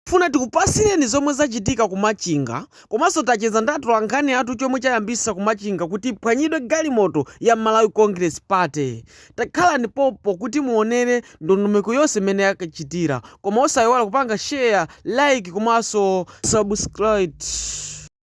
Tifuna tikupasileni zomwe zachitika ku Machinga komanso tacheza ndi atolankhani athu chomwe chayambisa ku Machinga kuti iphwanyidwe galimoto ya Malawi Congress Party. Takhalani pompo kuti muonere ndondomeko yonse mmene yakachitira koma osaiwala kupanga share, like komanso subscribe.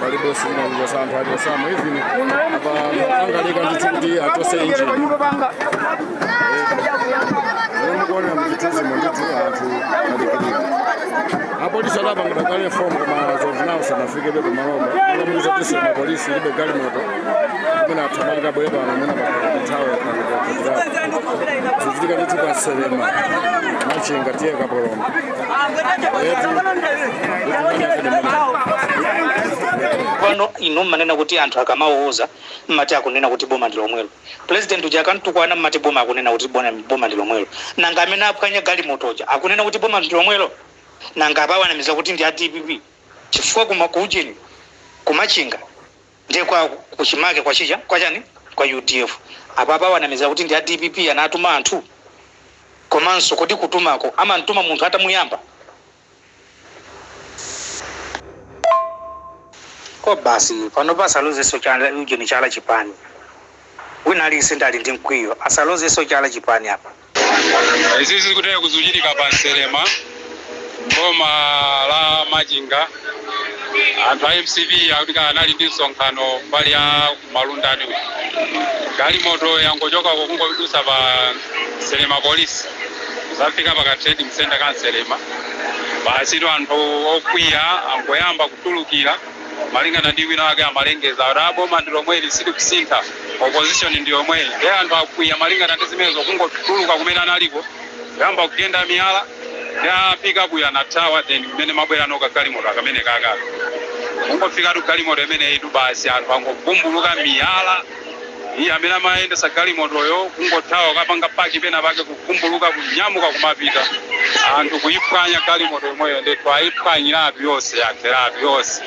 palibenso inanjira za anthu aliyense amwe even apa angoleka ndithu kuti achose injini lero mukuonera muchithunzimo ndithu anthu alikilika apolisi adapangidwa kale fomu koma zoonawo sanafikebe kumaloba akamuuza kutinso mapolisi alibe galimoto kumene athamanga abwere pano amene pakuthawe akakutirapo zochitika ndithu pa nselema machinga tiye kapoloma pano inu mmanena kuti anthu akamawauza mumati akunena kuti boma ndi lomwelo pulezidenti uja akamtukwana mumati boma akunena kuti bona- boma ndi lomwelo nanga amene aphwanya galimoto uja akunena kuti boma ndi lomwelo nanga apawanamiza kuti ndi a dpp chifukwa kuma kuujeni kumachinga Ndiye kwa kuchimake kwa tcheya kwa chani kwa udf apa akuwanamizira kuti ndi a dpp anatuma anthu komanso kodi kutumako amamtuma munthu atamuyamba koma basi panopa asalozenso chala ujeni chala chipani wina aliyense ali ndi mkwiyo asalozenso chala chipani apa. izi zikuteretu zikuchitika pa nselema boma la machinga anthu a mcp akuti anali ndi msonkhano mbali ya malundani galimoto yangochoka kungodusa pa nselema polisi isanafike pa ka trading center ka nselema basi anthu okwiya angoyamba kutulukira Malingana ndi wina wake amalengeza kuti boma ndi lomweli silikusintha, opposition ndi yomweyi nde anthu akwiya malingana ndi zimenezo kungotuluka kumene analiko kuyamba kugenda miyala nde pickup yo anathawa then mmene imabwerano ka galimoto kamenekaka kungofikatu galimoto imeneyitu basi anthu angovumbuluka miyala Iye amene amayendetsa galimotoyo kungothawa kukapanga paki pena pake kuvumbuluka kunyamuka kumapita anthu kuyiphwanya galimoto yomweyo ndithu ayiphwanyiratu yonse yatheratu yonse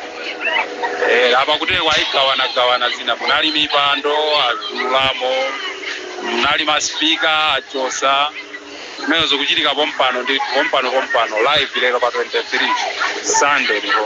eh apa kutereku ayigawana gawana zina munali mipando azululamo munali masipika achosa zimenezo zikuchitika pompano ndi pompano pompano live lero pa 23 sunday ndipo